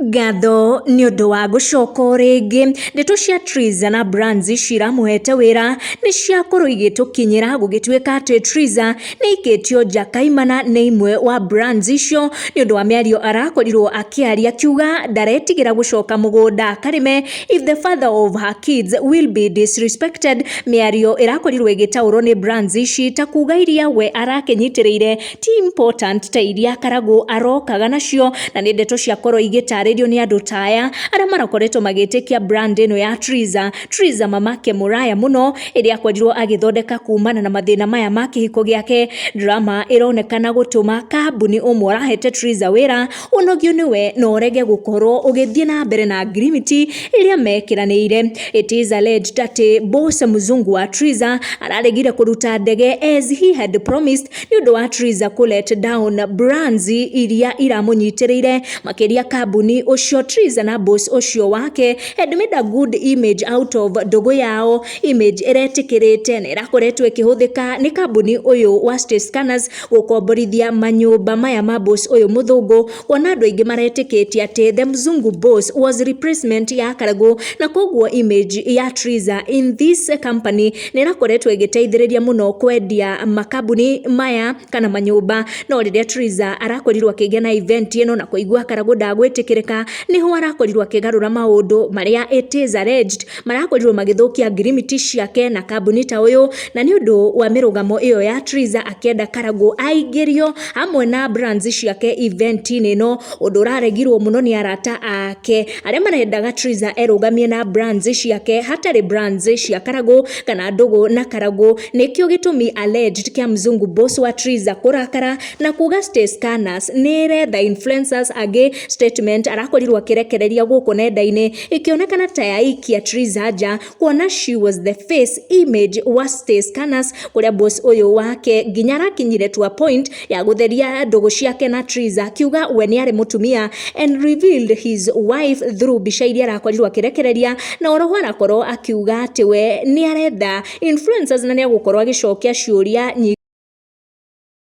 Ngatho nĩ ũndũ wa gũcoka o rĩngĩ. Ndeto cia Triza na Brans ciramũhete wĩra nĩ ciakorwo igĩtũkinyĩra gũgĩtuĩka atĩ Triza nĩ aikĩtio nja kaimana nĩ imwe wa Brans icio nĩ ũndũ wa mĩario arakorirwo akĩaria akiuga ndaretigĩra gũcoka mũgũnda akarĩme if the father of her kids will be disrespected mĩario ĩrakorirwo ĩgĩtaũrwo nĩ Brans ici ta kuga iria we arakĩnyitĩrĩire ti important ta iria Karagũ arokaga nacio na nĩ ndeto ciakorwo igĩtarĩrio nĩ andũ ta aya arĩa marakoretwo magĩtĩkia brand ĩno ya Triza Triza mamake mũraya mũno ĩrĩa akorirwo agĩthondeka kumana na mathĩna maya ma kĩhiko gĩake drama ĩronekana gũtũma kambuni ũmwe ũrahete Triza wĩra ũnogio nĩwe na ũrege gũkorwo ũgĩthiĩ na mbere na ngirimiti ĩrĩa mekiranĩire it is alleged atĩ Bose Mzungu wa Triza araregire kũruta ndege as he had promised nĩ ũndũ wa Theresa kũ let down brands iria iramũnyitĩrĩire makĩria kambuni ũcio Theresa na boss ũcio wake had made a good image out of ndũgũ yao image ĩretĩkĩrĩte na ĩrakoretwo ĩkĩhũthĩka nĩ kambuni ũyũ wa Stay Scanners gũkomborithia manyũmba maya ma boss ũyũ mũthũngũ kuona andũ aingĩ maretĩkĩtie atĩ the mzungu boss was replacement ya karagũ na koguo image ya Theresa in this company nĩ ĩrakoretwo ĩgĩteithĩrĩria mũno kwendia makambuni maya kana manyũmba, no rĩrĩa Triza arakorirwo akĩgĩa na event ĩno na kũigua Karagũ ndagwĩtĩkĩrĩka, nĩho arakorirwo akĩgarũra maũndũ marĩa it is alleged marakorirwo magĩthũkia ngirimiti ciake na kambuni ta ũyũ, na nĩ ũndũ wa mĩrũgamo ĩyo ya Triza akĩenda Karagũ aingĩrio hamwe na brands ciake event-inĩ ĩno, ũndũ ũraregirwo mũno nĩ arata ake. Arĩa marendaga Triza erũgamie na brands ciake hatarĩ brands cia Karagũ kana Ndũgũ na Karagũ nĩkĩo gĩtũmi alleged kĩa Mzungu boss wa Triza kũrakara na kuga Stay Scanners nĩĩretha influencers angĩ statement arakorirwo akĩrekereria gũkũ nenda-inĩ ĩkĩonekana ta yaikia Triza nja kuona she was the face image wa stay scanners kuria boss uyu wake nginya arakinyire to a point ya gutheria ndugu ciake na trees akiuga we ni ari mutumia and revealed his wife through mbica iria arakorirwo akirekereria na oroho arakorwo akiuga ati we ni arenda influencers na ni agukorwo agicokia ciuria nyingi